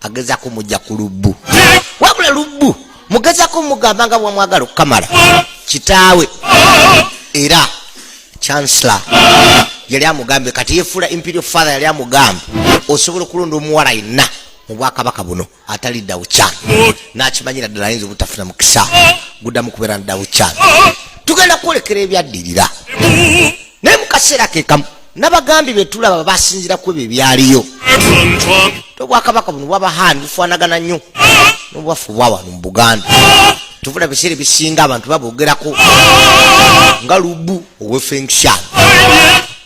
agezako muja ku lubbu wabula lubbu mugezako mugamba nga bwamwagala okukamala kitaawe era chancellor yali amugambye kati yefuula imperial father yali amugambye osobola okulonda omuwala yenna mu bwakabaka buno atali dawucan nakimanyira ddala ayinza obutafuna mukisa guddamu kubeera na dawucan tugenda kwolekera ebyaddirira naye mukaseera kekamu nabagambi betulaba basinzira ku ebyo ebyaliyo tobwakabaka buno bwabahandi bufanagana nnyo nobwaffe bwawano mu buganda tuvuna biseera ebisinga abantu babogerako nga lubu owefengshan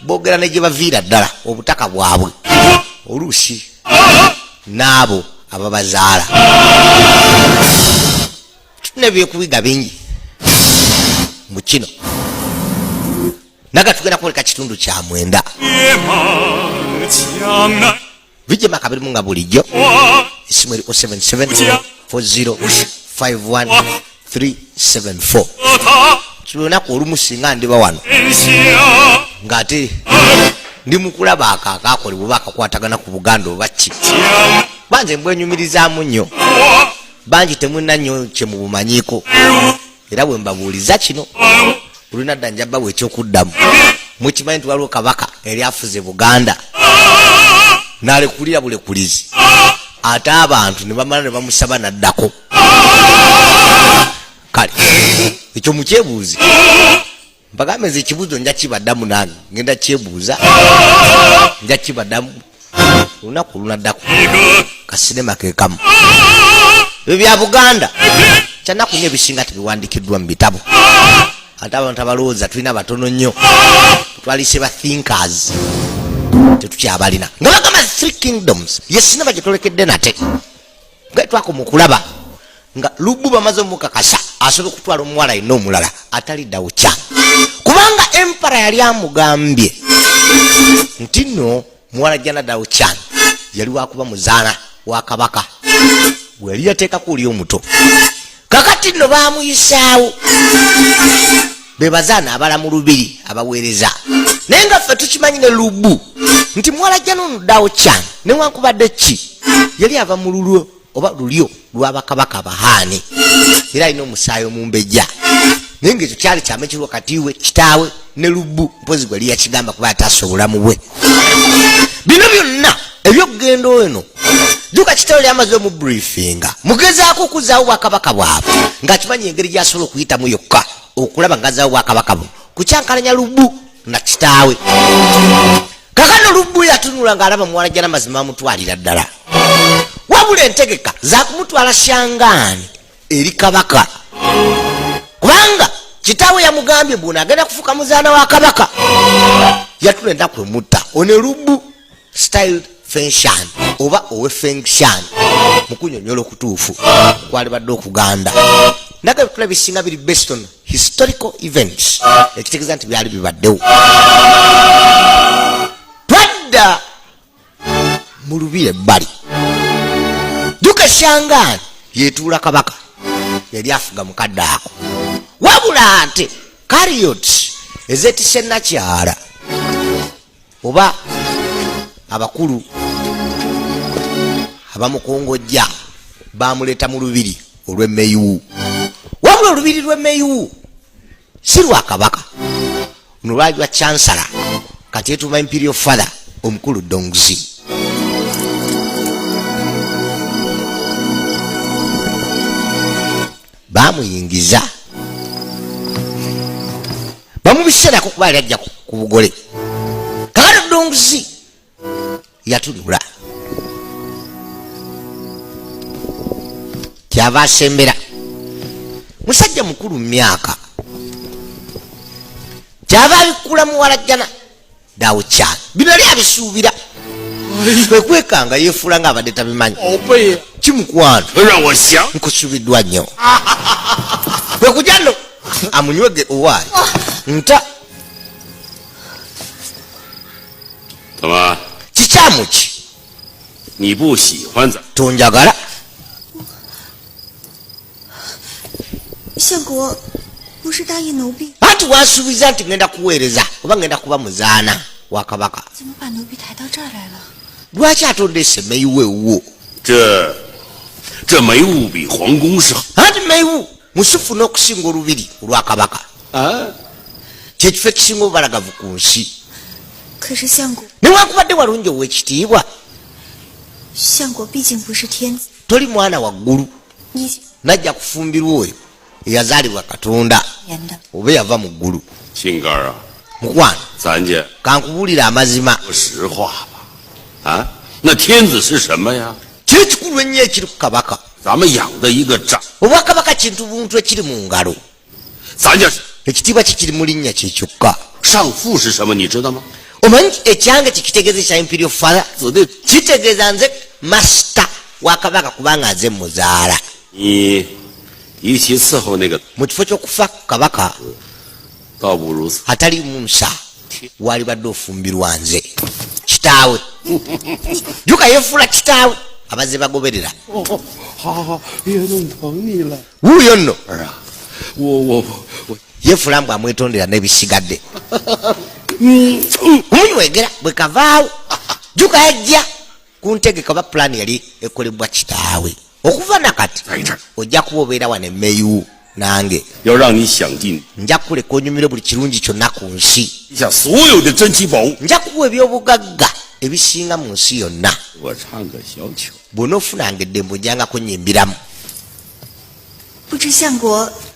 bogera ne gye baviira ddala obutaka bwabwe oluusi n'abo ababazaala tulina byekubiga bingi mu kino naga tugenda kwoleka kitundu kya mwenda vijema kabirimu nga bulijjo esimu eri 077 40 51 374 kilunaku olumu singa ndiba wano ngaate ndi mukulaba ako akakolebwa oba akakwatagana ku buganda obakki banze mbwenyumirizamu nnyo bangi temulina nnyo kyemubumanyiko era bwe mbabuuliza kino olina dda njabawo ekyokuddamu mukimanyi nti waliwo kabaka eri afuze buganda nalekulira bulekulizi ate abantu nebamala nebamusaba naddako kale ekyo mukyebuuzi mpagambe nze ekibuzo nja kibadamu nange ngenda kyebuuza nja kibadamu olunaku olunaddako kasinema kekamu ebyo bya buganda kyanaku nyo ebisinga tebiwandikiddwa mu bitabo ate abantu abalowooza tulina batono nnyo twalise ba thinkers tetukyabalina nga bagamba three kingdoms yesinaba gyetolekedde nate nga twakoma okulaba nga lubbu bamaze omukakasa asobola okutwala omuwala yenna omulala ataliddawo kya kubanga empara yali amugambye nti nno muwala janadawo kyani yali wakuba muzaana wa kabaka bwe yali yateekako oli omuto kakati nno baamuyisaawo be bazaana abala mu lubiri abaweereza naye nga ffe tukimanyi ne lubu nti muwalajja nonudawo kyane newankubadde ki yali ava mu lulwo oba lulyo lwabakabaka abahaani era alina omusaayi omumbejja naye ngaekyo kyali kyama ekiri wakati we kitaawe ne lubu mpozi gwe liyakigamba kuba ataasa obulamu bwe bino byonna ebyokugenda eno juka kitalo lyamaze omubriefinga mugezaako okuzaawo bwakabaka bwabwe ngaakimanyi engeri gyasobola okuyitamu yokka okulaba ngazaawo bwakabaka buno kukyankalanya lubu na kitaawe kakano lubu yatunula ngaalaba muwala jana mazima amutwalira ddala wabula entegeka zakumutwala shangaani eri kabaka kubanga kitaawe yamugambye bwona agenda kufuka muzaana wa kabaka yatula enaku emutta one lubu style fenshan oba owe fenshan mukunyonyola okutuufu kwalibadde okuganda naga ebitula bisinga biri based on historical events ekitegeeza nti byali bibaddewo twadda mu lubiri ebbali duka shangaani yetuula kabaka yali afuga mukadde ako wabula nti kariot ezetise nakyala oba abakulu abamukongojja bamuleeta mu lubiri olw'emmeyiwu wabula olubiri lw'emmeyiwu si lwa kabaka luno lwali lwa chansala kati etuuma imperial father omukulu dongzi bamuyingiza bamubiserako kuba yali ajja ku bugole kakati dongzi yatunula kyava asembera musajja mukulu mumyaka kyava abikkula muwalajjana dawo kyalo bino yali abisuubira kwekwekanga yefuula nga abadde tabimanyi kimukwano nkusubiddwa nnyo kwekujano amunywege owaayi nta kikyamu ki tonjagala anti wasuubiza nti ŋenda kuweereza oba ŋenda kuba muzaana wa kabaka lwaki atondeese meyiwu ewuwo anti meyiwu musufu n'okusinga olubiri olwa kabaka ah. kyekifo ekisinga obubalagavu ku nsi newankubadde walungi ow'ekitiibwa toli mwana waggulu najja kufumbirwa oyo eyazaalibwa katonda oba eyava mu ggulu mukwano kankubuulira amazima kiri kikulu ennyo ekiri ku kabaka obwakabaka kintu buntu ekiri mu ngalo ekitiibwa kikiri mu linnya kye kyokka omanyi ekyange kikitegeeza ekya imperio fala kitegeeza nze masita wakabaka kubanga nze muzaala mu kifo ky'okufa kabaka atali munsa walibadde ofumbirwa nze kitaawe juka yefuula kitaawe abaze bagoberera wuuyo nno yefuula mbu amwetondera n'ebisigadde omunywegera bwe kavaawo juka yajja kuntegeka oba pulaani yali ekolebwa kitaawe okuva nakati ojja kuba obeera wano emeyu nange nja kuleka onyumire buli kirungi kyonna ku nsi nja kuwa ebyobugagga ebisinga mu nsi yonna bwona ofunanga eddembo njangako nyimbiramu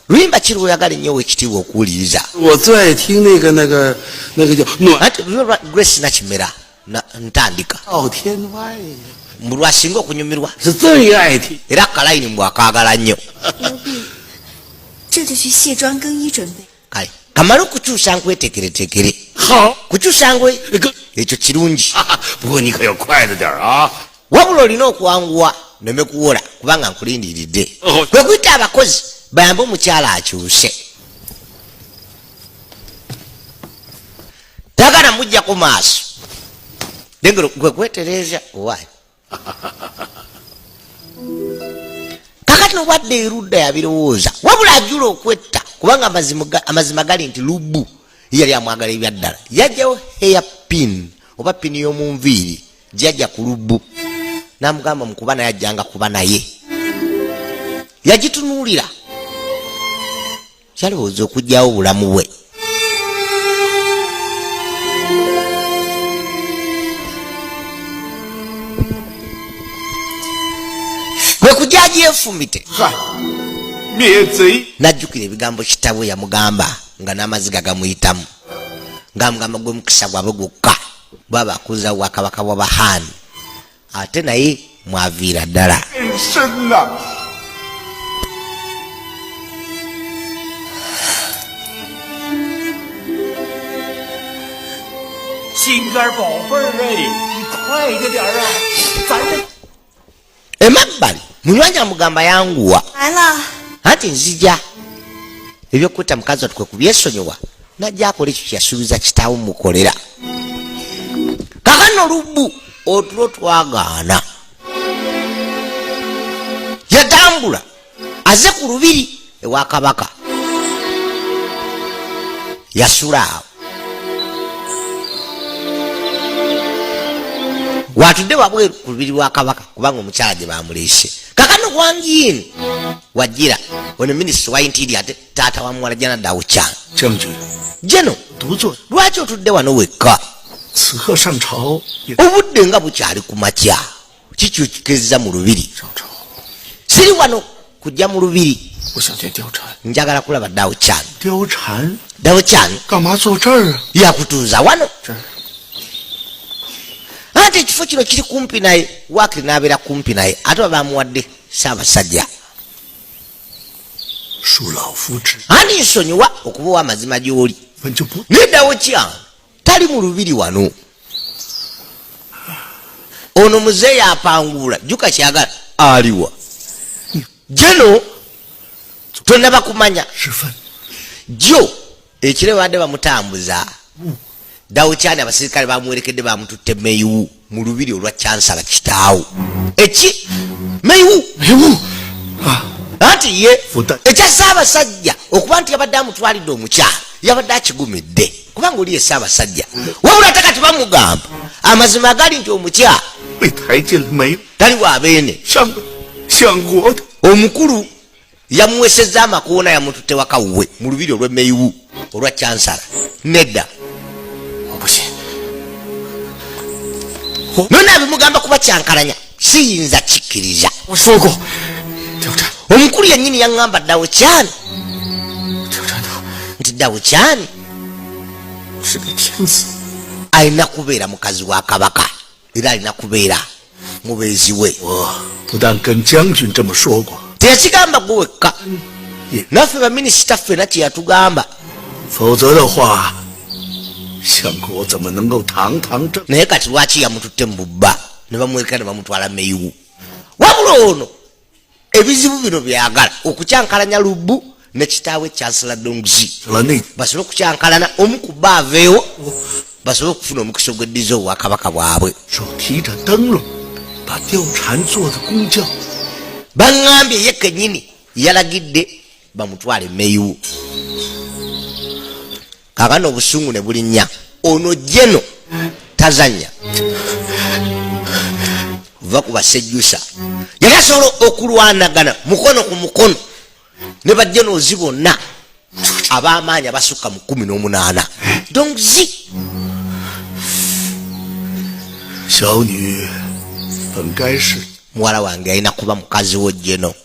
luyimba kiri lwoyagala ennyo owekitiibwa okuwuliriza grace nakimera ntandika mbu lwasinga okunyumirwa era akalayini mbu akaagala nnyo kale kamale okukyusa nkwetekeretekere kukyusa ngwe ekyo kirungi wabula olina okwanguwa neme kuwola kubanga nkulindiridde kwe kuyita abakozi bayambe omukyala akyuse tagana mujja ku maaso degero gwe kwetereeza owaye kakati nobwadde erudda yabirowooza wabula ajula okwetta kubanga amazima gali nti lubu yali amwagala ebyaddala yajjawo heya pin oba pini y'omunviiri jajja ku lubu namugamba mukuba naye ajjanga kuba naye yagitunuulira kyalowooza okugyawo obulamu bwe lwekujyaji efumbite najjukira ebigambo kitabwe yamugamba nga n'amaziga gamuyitamu ngamugamba gwemukisa gwabwe gwokka bwaba akuzawo wakabaka bwabahani ate naye mwaviira ddala emabbali munywanyi amugamba yanguwa anti nzija ebyokuta mukazi watu kwe kubyesonyiwa najja akola ekyo kyeyasuubiza kitaawo mukolera kakano lubu otulo twagaana yatambula aze ku lubiri ewa kabaka yasula awo watudde wabweru ku lubiri lwa kabaka kubanga omukyala gye bamuleese kakano wangiini wajira ono minisita wa intiiri ate taata wa muwala jana daucha jeno lwaki otudde wano wekka obudde nga bukyali ku makya kikyukikiriza mu lubiri siri wano kujja mu lubiri njagala kulaba dauchan dauchan yakutuuza wano ate ekifo kino kiri kumpi naye wakiri nabeera kumpi naye ate babamuwadde saabasajja ani nsonyiwa okuba owa amazima gy'oli nedawo kya tali mu lubiri wano ono muzeeyi apanguula juka kyagala aliwa jeno tonaba kumanya jo ekiro ebadde bamutambuza dawukyani abasirikale bamuwerekedde bamututte meyiwu mu lubiri olwa kyansala kitaawo eki meyiwu anti ye ekya saabasajja okuba nti yabadde amutwalidde omukyalo yabadde akigumidde kubanga oli ye saabasajja wabula ate kati bamugamba amazima agali nti omukyalo tali wabeene omukulu yamuwesezza amakoona yamututte waka wuwe mu lubiri olw'emmeyiwu olwa cansala nedda nona abimugamba kuba kyankalanya siyinza kikkiriza omukulu yennyini yaŋŋamba ddawo kyani nti ddawo kyani alina kubeera mukazi wa kabaka era alina kubeera mubeezi we teyakigamba gwe wekka naffe baminisita ffena kyeyatugamba naye kati lwaki yamututte mu bubba ne bamweka ne bamutwala meyiwu wabula ono ebizibu bino byagala okukyankalanya lubu ne kitaawe chancela dongzi basobole okukyankalana omu ku ba aveewo basobole okufuna omukisa ogweddiza obwakabaka bwabwe baŋambye ye kenyini yalagidde bamutwale meyiwu kakana obusungu ne bulinya ono jeno tazanya va ku basejusa yali asobola okulwanagana mukono ku mukono ne bajenoozi bonna abamaanyi abasukka mu kumi n'omunaana dongzi muwala wange alina kuba mukazi wo jeno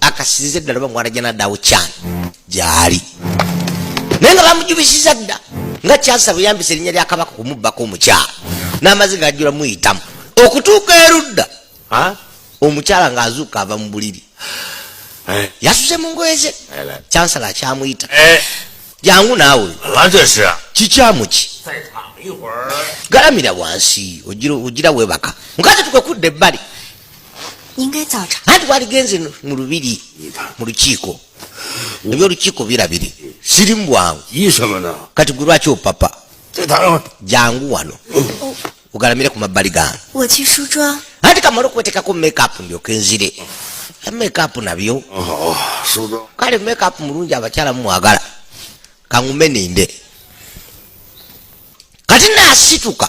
akasize ddala oba mwana janadaawo kyani gyali naye nga bamujubisiza dda nga kyansa buyambisa erinnya lya kabaka kumubbako omukyala n'amazi gaajula muyitamu okutuuka erudda omukyala ng'azuuka ava mu buliri eh. yasuze mu ngoye ze kyansala akyamuyita eh. jangu naawe kikyamu ki galamira wansi ogira webaka mukazi tukwe kudda ebbali anti waligenze mu lubiri mu lukiiko ebyolukiiko birabiri siri mubwangu kati gwe lwaki opapa jangu wano ugalamire ku mabbali gange anti kamala okuwetekako makeup ndyoka enzire makeup nabyo oh, oh, kale makeup mulungi abakyala mumwagala kangume ninde kati nasituka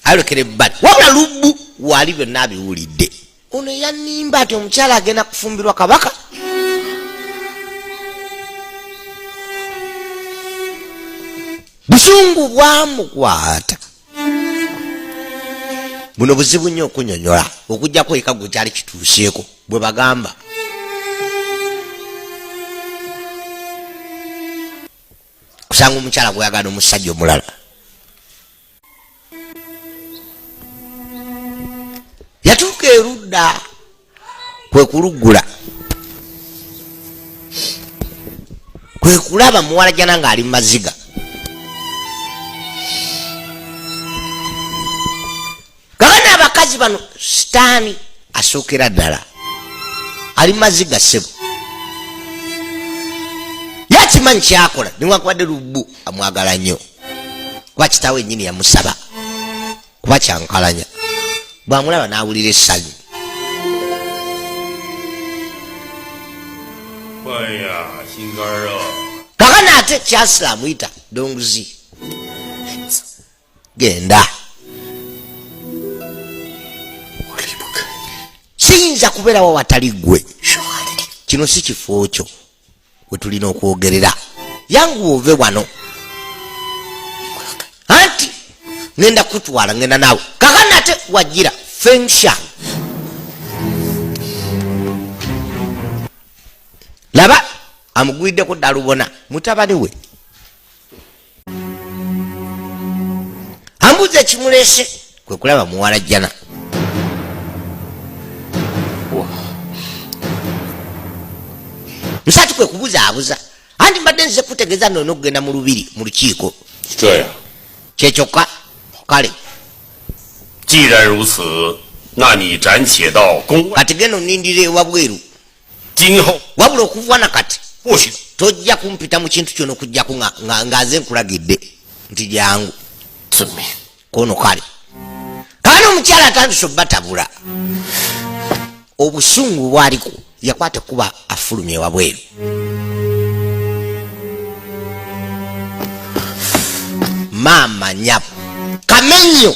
ayolekera ebbali wabula lubbu wali byonna abiwulidde ono yanimba nti omukyala agenda kufumbirwa kabaka busungu bwamukwata buno buzibu nnyo okunyonyola okujjako eka gwe kyali kituuseeko bwe bagamba kusanga omukyala gweyagala nomusajja omulala yatuuka erudda kwekuluggula kwekulaba muwalajana ngaali mu maziga gabana abakazi bano sitaani asookera ddala ali mazzi ga ssebo yakimanyi kyakola niwakubadde lubbu amwagala nnyo kuba kitaawo ennyini yamusaba kuba kyankalanya bwamulaba n'awulira essanyu kakana ate kyasila amuyita donguzi genda siyinza kubeerawo watali ggwe kino si kifo kyo we tulina okwogerera yanguwa ove wano anti ngenda kutwala ngenda naawe kakanate wajira fensha laba amugwiddeko dalubona mutabani we ambuuza ekimuleese kwe kulaba muwala jjana musatu kwe kubuzaabuza anti mbadde nzize kutegeeza noona okugenda mu lubiri mu lukiiko kyekyokka kale kati genda onindira ewabweru wabula okuva na kati tojja kumpita mu kintu kyona okujjaku ngaze nkulagidde nti jangu kono kale kaana omukyala atandise obatabula obusungu bwaliko yakwata kuba afulumye wabweru maama nyabo kamenyo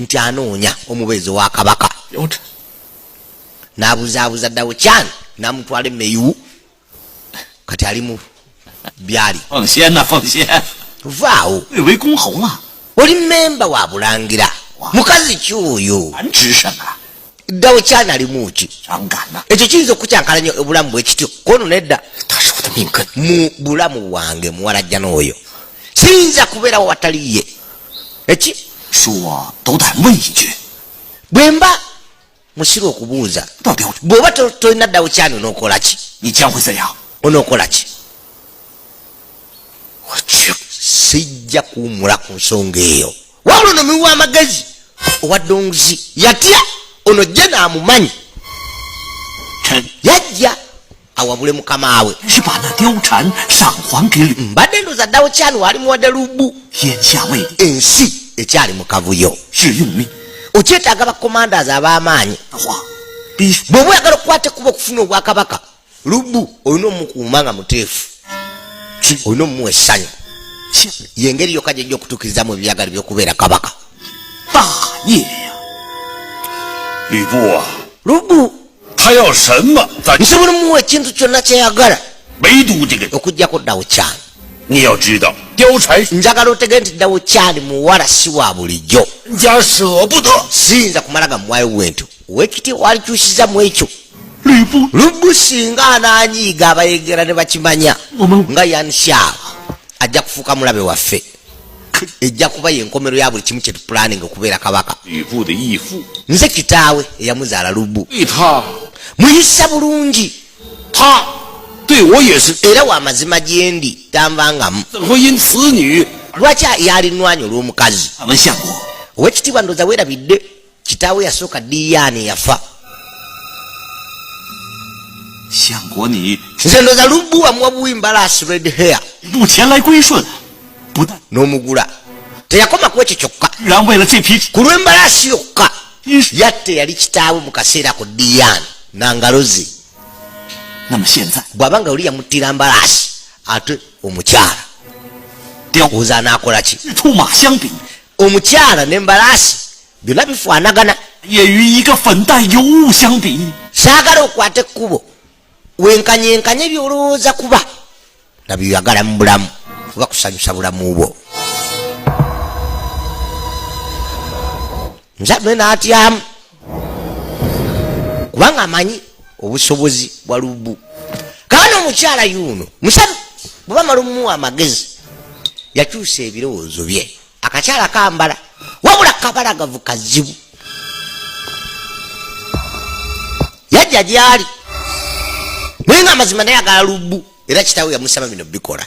nti anoonya omubeezi wa kabaka n'abuzaabuza ddawo can n'amutwala emeyu kati ali mu byali vaawo oli mmemba wa bulangira mukazi ki oyo ddawo kyanalimu ki ekyo kiyinza okukyankalanya obulamu bwekityo kono nedda mu bulamu bwange muwalajjana oyo siyinza kubeerawo watali ye eki bwemba musiru okubuuza bwoba tolina ddawo kyani onokolaki onokolaki sijja kuwumula ku nsonga eyo wabula ono miwa amagezi owa donguzi yatya ono jje naamumanyi yajja awabule mukama we mbadde ndoza ddawo kyani waali muwadde lubu ensi ekyali mu kavuyo okyetaaga bakomandas ab'amaanyi bw'oba oyagala okukwata ekuba okufuna obwakabaka lubbu olina omukuuma nga muteefu olina omumuwa essanyu yengeri yokka gyejja okutuukirizamu ebyagalo byokubeera kabaka lubbu nsobola omuwa ekintu kyonna kyeyagala okujjako ddawo kyani njagala otege nti ddawo kyani muwala si wa bulijjo siyinza kumala gamuwayo bwentyo wekiti walikyusiza mu ekyo lubu singa ananyiiga abayegera ne bakimanya nga yansyaa ajja kufuuka mulabe waffe ejja kuba yenkomero ya buli kimu kyetupulaninga okubeera kabaka nze kitaawe eyamuzaala lubu muyisa bulungi era wamazima gyendi tanvangamu lwaki yalinwanya olwomukazi owekitiibwa ndoza werabidde kitaawe yasooka diyaani yafa nze ndoza lubbu wamuwa buwi mbalaasi red hair n'omugula teyakoma ku ekyo kyokka ku lw'embalaasi yokka yatte yali kitaawe mu kaseera ku diyaani nangalozi bw'aba nga oli yamuttira mbalaasi ate omukyala oza anaakola ki omukyala ne mbalaasi byonna bifaanagana saagala okwata ekkubo wenkanyenkanye byolowooza kuba nga byoyagala mu bulamu oba kusanyusa bulamu bwo nzame n'atyamu kubanga amanyi obusobozi bwa lubu kaana omukyala yuuno musabi bweba mala omuwa amagezi yakyusa ebirowoozo bye akakyala kambala wabula kabalagavu kazibu yajja gyali naye nga amazima naye agala lubu era kitawe yamusaba bino bikola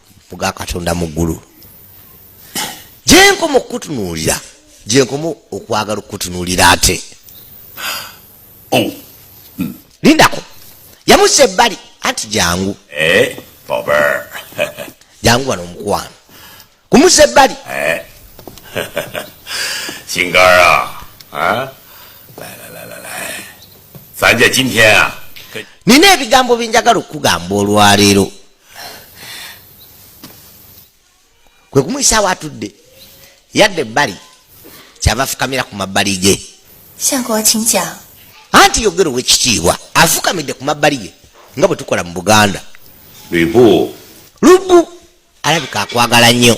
muga katonda mu ggulu gyenkoma okukutunuulira gyenkoma okwagala okukutunuulira ate oh. hmm. lindako yamusa ebbali anti jangu eh, jangu wano omukwano kumusa ebbali eh. singara sanja kimya nina ebigambo byenjagala okukugamba olwaleero kwe kumuyisaawo atudde yadde ebbali kyava afukamira ku mabbali ge anti yogera owekitiibwa afukamidde ku mabbali ge nga bwe tukola mu buganda lubu alabika akwagala nnyo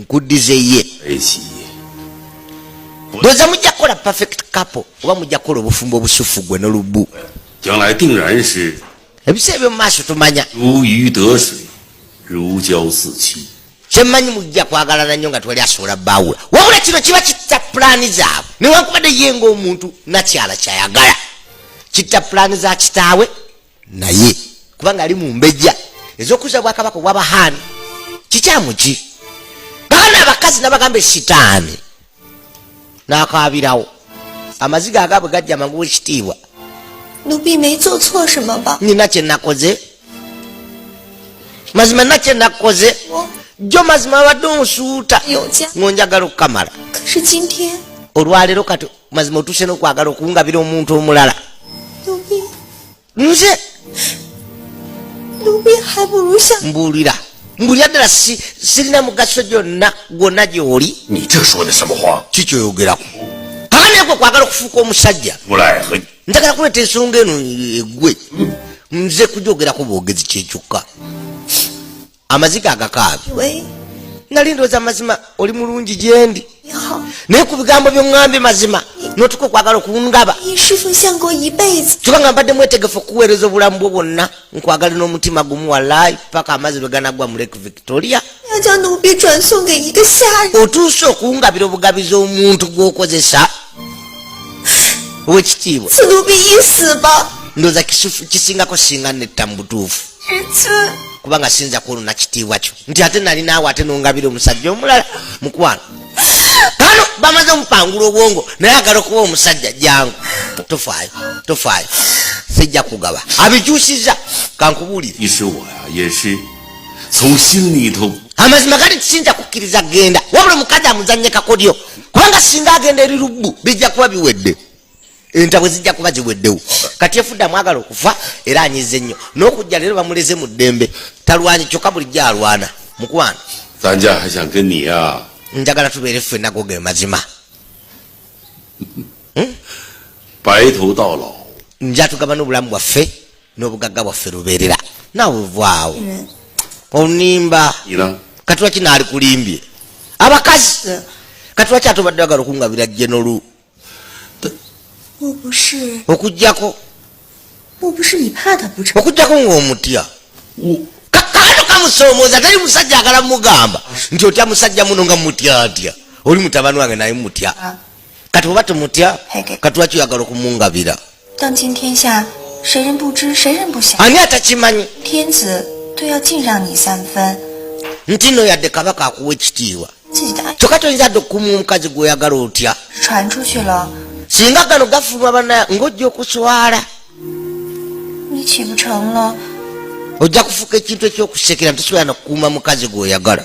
nkuddize ye ndoza mujja kukola perfect couple oba mujja kukola obufumbo obusufu gwe nolubu ebisa ebyo mumaaso tumanya kyemanyi mujja kwagalana nnyo nga twali asobola bawula wabula kino kiba kitta pulaani zaabwe newankubadde ye ngaomuntu nakyala kyayagala kitta pulaani za kitaawe naye kubanga ali mumbejja ezokuza bwakabaka obwabahaani kikyamu ki baana abakazi nabagamba esitaani nakabirawo amaziga agabwe gajja mangu wekitiibwa nina kyenakoze mazima na kyenakoze jo mazima abadde omusuuta ngonjagala okukamala olwaleero kati mazima otuse nokwagala okungabira omuntu omulala nze mbulira mbulira ddala sirina mugaso gyonna gwonna gyoli kikyoyogerako akaneko kwagala okufuuka omusajja njagala kuleeta ensonga eno egwe nze kujogerako bwogezi kyekyokka amaziga agakaabi nali ndooza amazima oli mulungi gyendi naye ku bigambo byoŋŋambye mazima notuka okwagala okungaba kyoka nga mbadde mwetegefu okuweereza obulamu bwo bwonna nkwagale n'omutima gumu walaayi paka amazzi lwe ganagwa mu lake victoria otuuse okungabira obugabizi omuntu gw'okozesa owekitiibwa ndooza kisingako singa netta mu butuufu kubanga siyinza kwonona kitiibwa kyo nti ate nali naawe ate nongabira omusajja omulala mukwano kano bamaze omupangula obwongo naye agala okuba omusajja jangu tofaayo tofaayo sijja kugaba abikyusiza kankubuulire amazima gali tisinza kukkiriza genda wabula omukazi amuzanye kakodyo kubanga singa agenda eri lubbu bijja kuba biwedde entabwe zijja kuba ziweddewo kati efudde amwagala okufa era anyize nnyo n'okujja leero bamuleze mu ddembe talwanyi kyokka bulijjo alwana mukwano njagala tubeere ffe nago ge mazima hmm? njatugabana obulamu bwaffe n'obugagga bwaffe lubeerera naawe ovaawo onimba katulaki naali kulimbye abakazi katulaki ate obadde bagala okungabira jenolu okujjako okujjako ng'omutya kakano kamusoomooza teri musajja agala mugamba nti otya musajja muno nga mutya atya oli mutabani wange naye mutya ah. kati oba tumutya katwaki oyagala okumungabira ani atakimanyi nti no yadde kabaka akuwa ekitiibwa kyokka toyinza dde okukumu omukazi gweoyagala otya singa gano gafuluma bana ngaojja okuswala ojja kufuuka ekintu ekyokusekera nti sobola nakukuuma mukazi gweoyagala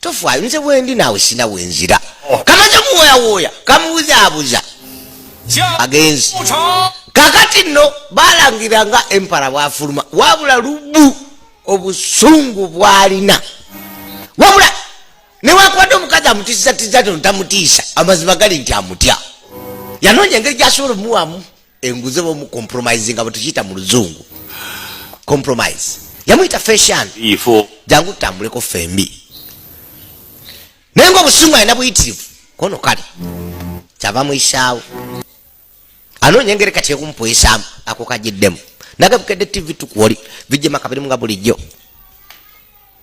tofaayo nze bwendi naawe sina wenzira oh. kamaze muwoyawooya kamuwuzaabuza agenzi kakati nno balangira nga empara bwafuluma wabula lubu obusungu bwalina wabula newakwade omukazi amutiisatiza tono tamutiisa amazima gali nti amutya yanoonya engeri gyasobola omuwamu enguze bomu compromising abo tukiyita mu luzungu compromise yamuyita fashion ifo jangu tutambuleko fembi naye nga obusungu alina buyitirivu kono kale kyava muyisaawo anoonya engeri kati ekumupuyisaamu ako kajiddemu nagabukedde tv tukwoli bijja makabirimu nga bulijjo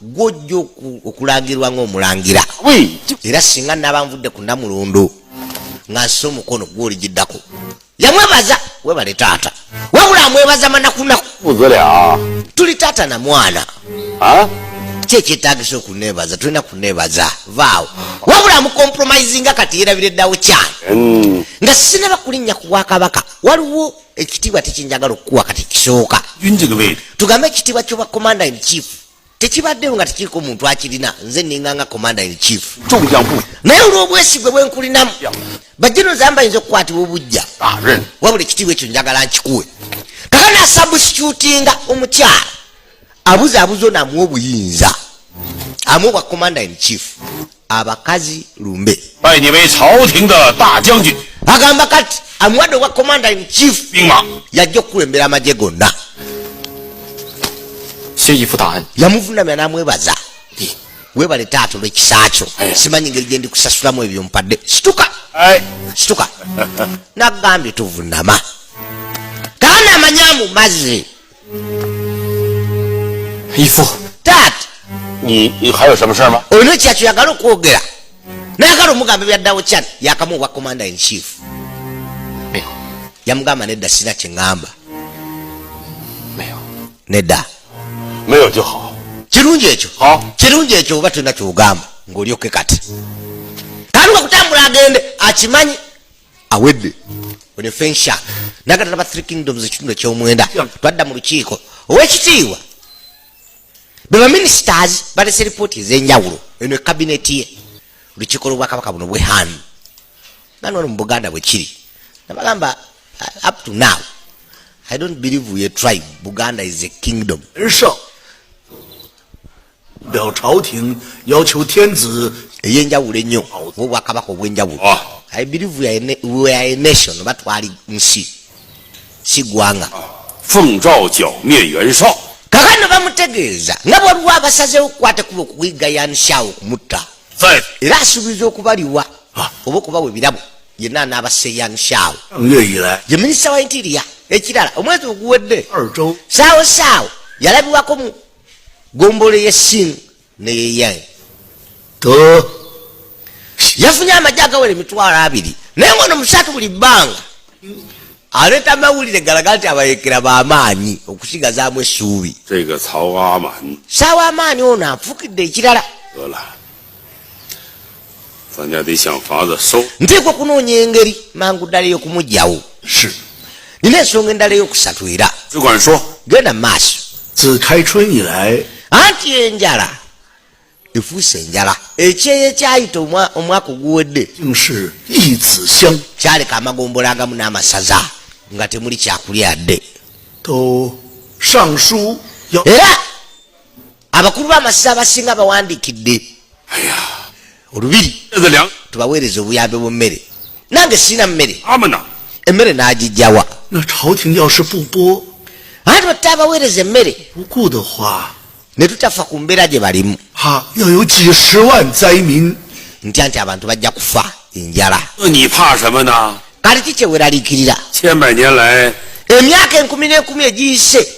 gwojja okulangirwa ngaomulangira era singa naba nvudde ku namulundu nga nsi omukono gwoligiddako yamwebaza webale taata wabula amwebaza manakunaku ah. tuli taata na mwana ah? kyekyetagisa okunebaza tulina kunebaza vaawo wabula amukompromisinga kati yerabire ddawo kyani mm. nga sinaba kulinnya ku bwakabaka waliwo ekitiibwa tekinjagala okukuwa kati kisooka tugambe ekitiibwa kyoba commander in chief tekibaddewo nga tekiriko muntu akirina nze ninga nga commander in chief naye olw'obwesigwe bwenkulinamu bajjeno zamba yinza okukwatibwa obujja ah, wabula ekitiibwa ekyo njagala nkikuwe kakana sabusicutinga omukyala abuza abuzo namu obuyinza amu wa commander in chief abakazi lumbe bai ni wei cao ting de da jiang jun agamba kati amu wa wa commander in chief bing ma ya jo ku embera ma je gonna xie yi fu da an ya mu funa me na mu ba za di we ba le ta to le kisa cho eh. si ma ni ngel je ndi ku sa sura mu e bi on padde stuka ai stuka na gambi tu vunama kana manyamu mazi ifo taata ihayo samusama olina ekyakyagala okwogera nayagala omugamba ebyaddawo chan yakamu obwa commander in chief eh. yamugamba nedda sina kyeŋamba nedda kirungi ekyo kirungi ekyo oba tulina kyogamba ngaolyoke kati tandika kutambula agende akimanyi awedde oyo fensha nagatala ba three kingdoms ekitundu ekyomwenda twadda mu lukiiko owekitiibwa be baministers balese lipooti ezenjawulo eno ekabineti ye olukiiko lwobwakabaka buno bwehanu nani wano mu buganda bwekiri nabagamba uh, up to now i don't believe we a tribe buganda is a kingdom sure. eyenjawulo ennyo obwakabaka obwenjawulo ah. i believe we are, a, we are a nation oba twali nsi si gwanga kakano bamutegeeza nga bwaliwo abasazewo okukwata kuba okuyiga yanishawo okumutta era asuubiza okubaliwa ah. oba okubawa ebirabo yenna anaabase yanishawo ye minisita wa intiria ekirala omwezi oguwedde saawo saawo yalabiwako gombolo eyesing neyeyaye to yafunye amagye agawera emitwalo abiri naye ngono musatu buli bbanga aleeta amawulire galaga nti abayekera bamaanyi okusigazaamu essuubi saawa amaanyi ono afukidde ekirala nteekwa okunoonya engeri mangu ddala ey'okumugyawo nina ensonga endala ey'okusatu era genda mu maaso anti enjala efuuse enjala ekyeyo ekyayita omwaka oguwedde kyaleka amagombola agamu n'amasaza nga temuli kyakulya dde era abakulu b'amasaza abasinga bawandiikidde olubiri tubaweereza obuyambi bwa mmere nange sirina mmere emmere n'agijjawa anti batta abaweereza emmere ne tutafa ku mbeera gye balimu nti anti abantu bajja kufa enjala kati ki kyeweraliikirira emyaka enkumi n'enkumi egiyise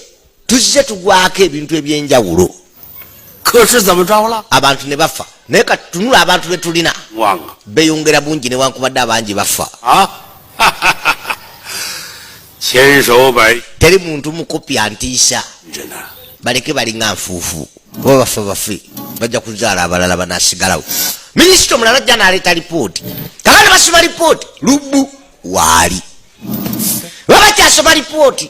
tuzze tugwako ebintu ebyenjawulo abantu ne bafa naye kati tunula abantu be tulina beyongera bungi newankubadde abangi bafa teri muntu mukopi antiisa baleke balinga nfuufu oba bafa bafe bajja kuzaala abalala banasigalawo minisita omulala ajja naleeta lipooti kaba ne basoma lipooti lubbu waali baba kyasoma lipooti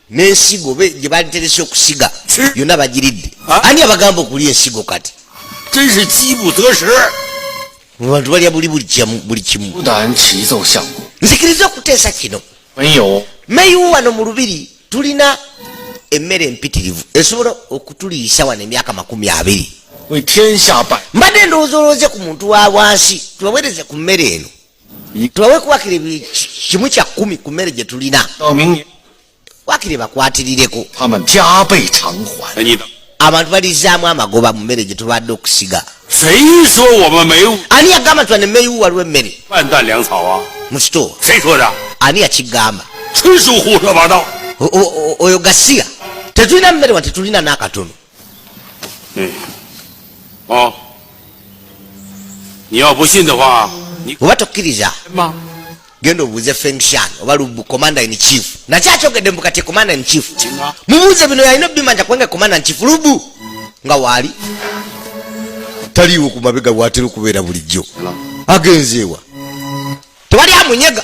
nensigo gye baliterese okusiga yonna bagiridde ani abagamba okulya ensigo kati abantu balya buli buli kimu nzikiriza okuteesa kino meyiwu wano mu lubiri tulina emmere empitirivu esobola okutuliisa wano emyaka makumi abiri mbadde ndowooza olowooze ku muntu wa wansi tubaweereze ku mmere eno tubawe kuwakire kimu kya kumi ku mmere gye tulina wakire bakwatirireko abantu balizaamu amagoba mu mmere gye tubadde okusiga ani yagamba nti wane meyiwu waliwo emmere mu sitoo ani yakigamba oyo gasiya tetulina mmere wa tetulina n'akatono oba tokkiriza genda obuuze fenkshan oba lubu commander in chief nakyo akyogedde mbu kati commander in chief mubuuze bino yalina obimanja kubanga commander in chief lubu nga waali taliiwo ku mabega watera okubeera bulijjo agenzeewa tewali amunyega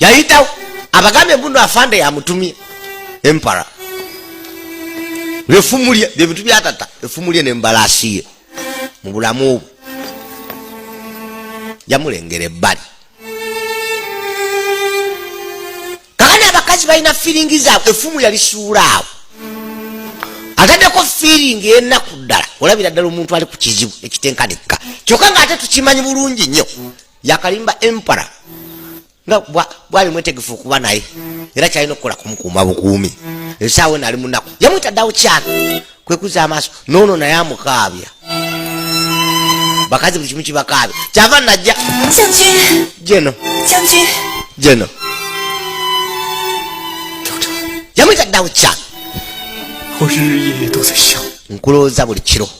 yayitawo abagambye mbuno afande yamutumye empara lefumulye byebintu byatata efumulye nembalasiye mubulamu obwo yamulengera ebbali kakani abakazi balina firingi zaabwe efumu yalisuula awo ataddeko firingi enaku ddala olabira ddala omuntu ali ku kizibu ekitenkanikka kyokka nga ate tukimanyi bulungi nnyo yakalimba empara nga bwali mwetegefu okuba naye era kyalina okukola kumukuuma bukuumi esaawa eno ali munaku yamwita ddawo kyana kwekuza amaaso noono naye amukaabya bakazi buli kimu kibakaabya kyava najja jeno jeno yamwita ddawo kyana nkulowooza buli kiro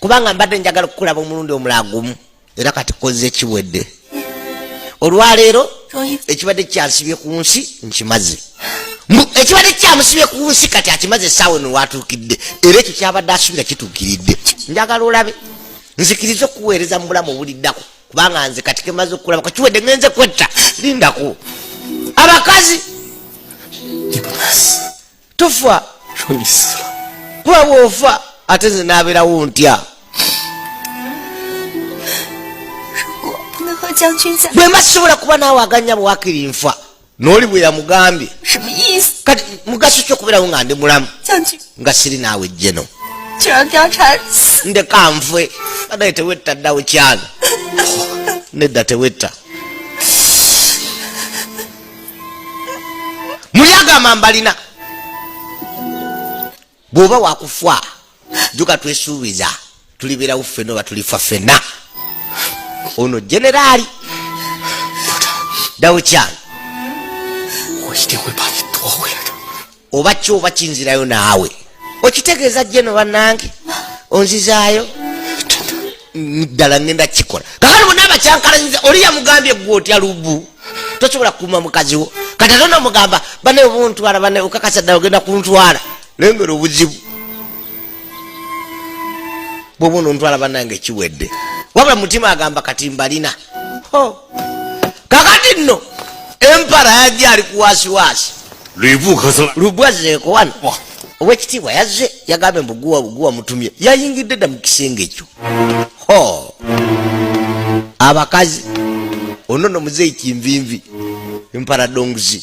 kubanga mbadde njagala okukulaba omulundi omulaa gumu era kati kozze kiwedde olwaleero ekibadde kyansibye ku nsi nkimaze ekibadde kyamusibye ku nsi kati akimaze esaawa eno watuukidde era ekyo kyabadde asubira kituukiridde njagala olabe nzikiriza okuweereza mu bulamu obuliddako kubanga nze kati kemaze okukulaba kakiwedde ngenze kwetta lindako abakazi tufa kuba bwofa ate nze nabeerawo ntya bwe mba sisobola kuba naawe aganya bwakiri nfa nooli bwe yamugambye kati mugaso ki okubeerawo nga ndi mulamu nga siri naawe jjeno ndeka nfwe anaye tewetta ddawo kyana nedda tewetta muli agamba mbalina bwoba wakufwa juka twesuubiza tulibeerawo ffena oba tulifa ffena ono generaali dawukyalo oba ki oba kinzirayo naawe okitegeeza jeno banange onzizaayo ddala ngenda kikola kakati bona abakyankalanyiza oli yamugambye gwe otya lubu tosobola kukuuma mukazi wo kati ate nomugamba bane obuntwala bane okakasa ddala ogenda kuntwala lengera obuzibu bwoba onontwala banange kiwedde wabula mutima agamba kati mbalina kakati nno empara yajja ali kuwasiwasi lubwazeeko wano owekitiibwa yazze yagambye mbuguwa buguwa mutumye yayingidde dda mu kisenge ekyo ho abakazi ono no muzeeyi kinvinvi emparadonguzi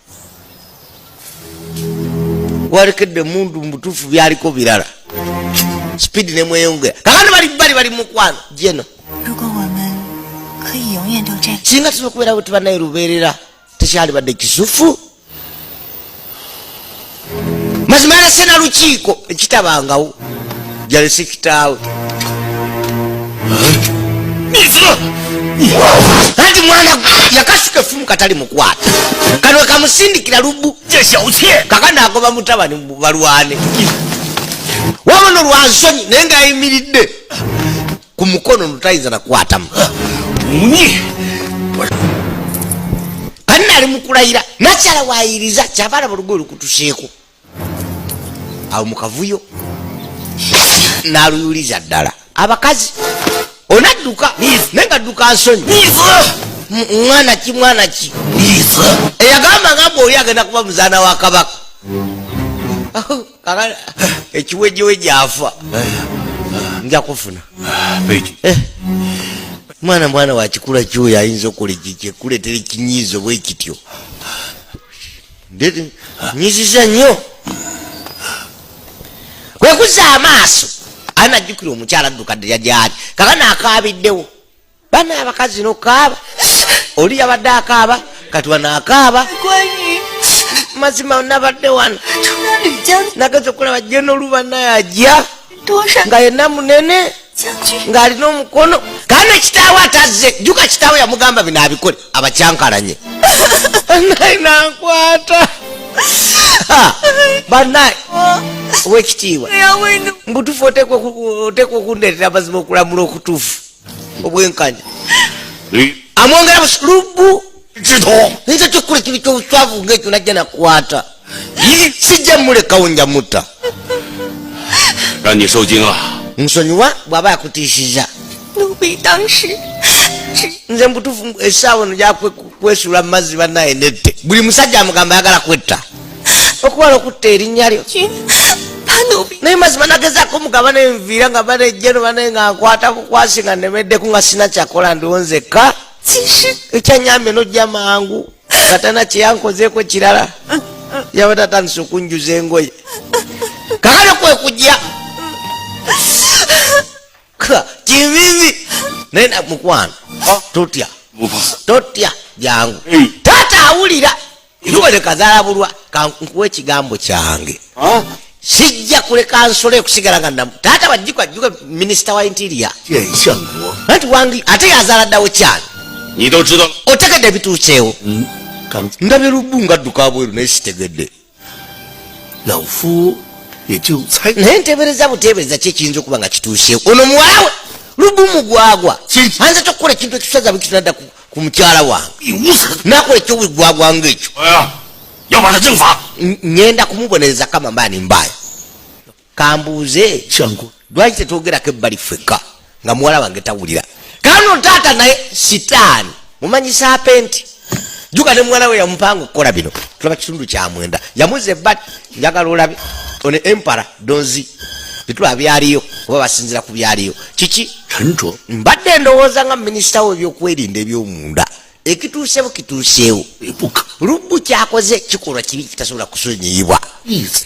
walekedde emundu mubutuufu byaliko birala speed nemweyongera kakati bali bali bali mukwano jeno singa tunokubeerawo tibanaye lubeerera tekyalibadde kisufu mazima yalese na lukiiko ekitabangawo jalese kitaawe anti mwana yakasuka efumu katali mukwata kano kamusindikira lubu kaka nagoba mutabani balwane wabona olwansonyi naye ngaayimiridde ku mukono notayinza nakwatamu kanali mukulayira nakyala wayiriza kyava alaba olugoye lukutuseeko awo mukavuyo naluyuliza ddala abakazi onadduka naye nga dduka nsonyi mwana ki mwana ki eyagamba nga mbu oli agenda kuba muzaana wa kabaka kaka ekiwejeweje afa nja kufuna eh. mwana mwana wakikula kyoyo ayinza okola ekikuletera ekinyiizo bwe kityo nyiziza nnyo kwekuza amaaso anajjukira omukyala addukadde yajaali kaka naakaabiddewo bana abakazi nokaaba oli yabadde akaaba kati wano akaaba mazima nabadde wano nageza okulaba je noluba naye ajja nga yena munene ng'alina omukono kandi ekitaawe atazze juka kitaawe yamugamba bino abikole abakyankalanye naye nankwata banaye owekitiibwa mbutufu oteekwa okundeetera amazima okulamula okutuufu obwenkanya amwongera lubu nze kyokukola ekintu kyobuswavu ngaekyo najja nakwata sijja mulekawo nja mutta nsonyiwa bwaba yakutiisiza nze mubutuufu esaawa eno gyakwesula mumazzi banaye nette buli musajja amugamba ayagala kwetta okuwala okutta erinnya lyo naye mazima nagezaako mugaba nenviira nga banejjeno banaye nga nkwata bukwasi nga nemeddeku nga sina kyakola ndiwo nzekka ekyanyambye nojja mangu katana kyeyankozeeko kirala yabadde atandise okunjuza engoye kakale kwekujja kivivi naye mukwano totya totya jangu taata awulira nubale kazalabulwa kankuwa ekigambo kyange sijja kuleka nsole okusigala nga namu taata bajjikwa jjuka minisita wa intiria anti wangi ate yazala ddawo kyalo otegedde ebituuseewo mm, ndabe lubu nga dduka bweru naye sitegedde naye ntebereza butebereza ki ekiyinza okuba nga kituuseewo ono muwalawe lubu mugwagwa anza tokukola ekintu ekisazabwe kitunaddaku ku mukyala wange nakola ekyobwigwagwa nga ekyo ngenda kumubonereza kama mba nimbayo kambuuze lwaki tetwogerako ebbali ffekka nga muwala wange tawulira kano taata naye sitaani mumanyisa apenti juga ne muwala we yamupanga okukola bino tulaba kitundu kyamwenda yamuze bat njagala olabe one empara donzi bitula byaliyo oba basinzira ku byaliyo kiki kanto mbadde ndowooza nga minisita wo ebyokwerinda ebyomunda ekituusewo kituuseewo lubbu kyakoze kikolwa kibi kitasobola kusonyiyibwa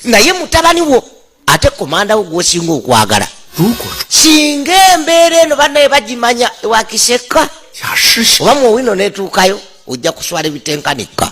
naye mutabani wo ate komanda wo gwosinga okwagala singa embeera eno banaye bagimanya ewakiseka oba muwino netuukayo ojja kuswala ebitenkanika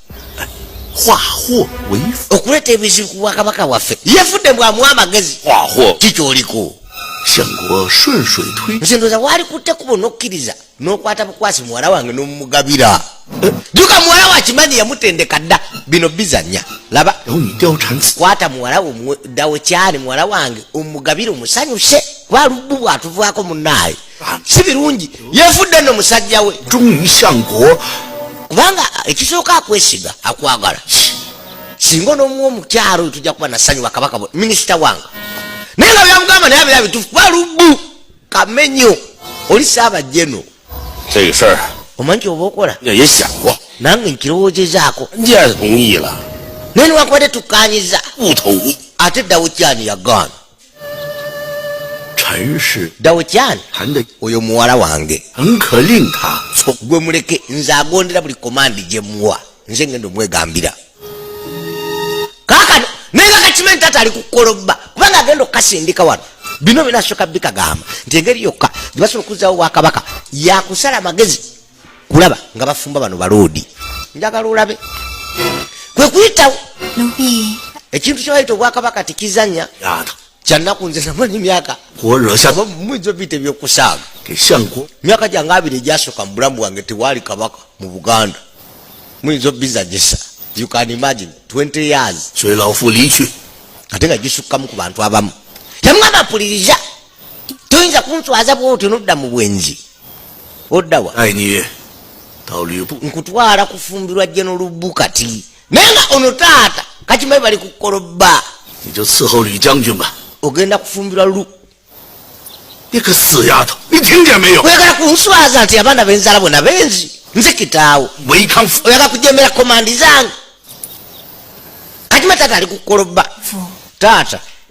okuleeta ebizibu ku bwakabaka bwaffe yefudde mbw amuwa amagezi kikyoliko nze ndoza walikutte kubo nokkiriza nokwata bukwasi muwala wange nomumugabira eh. juka muwala wakimanyi yamutendeka dda bino bizanya laba kwata muwala wo dawe kyani muwala wange omugabire omusanyuse kuba lubbu bwatuvaako munaaye si birungi yevudde no musajja we kubanga ekisooka akwesiga akwagala singa onomuwa omukyalo tujja kuba nasanyuwa kabaka minisita wange naye nga byamugamba naye abira bitufu kuba lubu kamenyo oli saaba jeno omanyi kyoba okola nange nkirowoozezaako naye niwankubadde tukanyiza ate dawukyani yagaana dawukyani oyo muwala wange gwe muleke nze agondera buli komandi gye muwa nze ngenda omwegambira kakano naye kakakimanyi tata ali kukolobba kubanga agenda okukasindika wano bino binasooka bikagamba nti engeri yokka gyebasobola okuzawo bwakabaka yakusala amagezi kulaba nga bafumba bano baloodi njagala olabe kwe kuyitawo ekintu kyebayita obwakabaka tikizanya kyannaku nze namanyi myaka muyinza obiyita ebyokusaaga myaka gyange abiri egyasoka mu bulamu bwange tewaali kabaka mu buganda muyinza obizanyisa you can imagine 20 years ate nga gisukkamu ku bantu abamu yamwaba apuliriza toyinza kunswaza bwoti nodda mu bwenzi oddawa nkutwala kufumbirwa jeno lubbu kati naye nga ono taata kakimayi bali kukolobba ogenda kufumbirwa lu oyagala kunswaza nti abaana benzala bona benzi nze kitaawo oyagala kujemera komandi zange katima taata ali kukolobba taata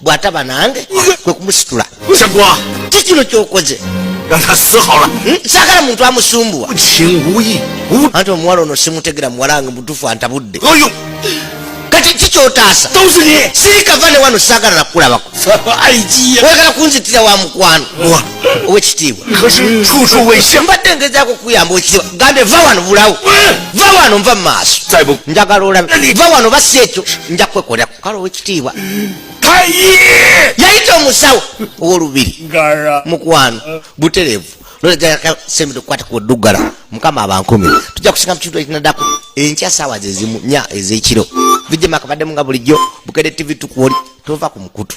bw'ataba nange kwe kumusitula ki kino ky'okoze hmm? saagala muntu amusumbuwa anti omuwala ono simutegera muwala nga mutufu antabudde kati ki kyotaasa siikava ne wano saagala nakukulabako oyagala kunzitira wa mukwano owekitiibwa mbadde ngezaako kuyamba owekitiibwa gambe va wano bulawo va wano nva mu maaso njagala olabe va wano basi ekyo nja kwekolera kale owekitiibwa yayita omusawo owolubiri mukwano buterevu nolegasembekwata kuduggala mukama abankumi tujja kusinga mukintu ekinadako enkya saawa zezimu nya ezekiro vijema akabaddemu nga bulijjo bukede tv tukwoli tova ku mukutu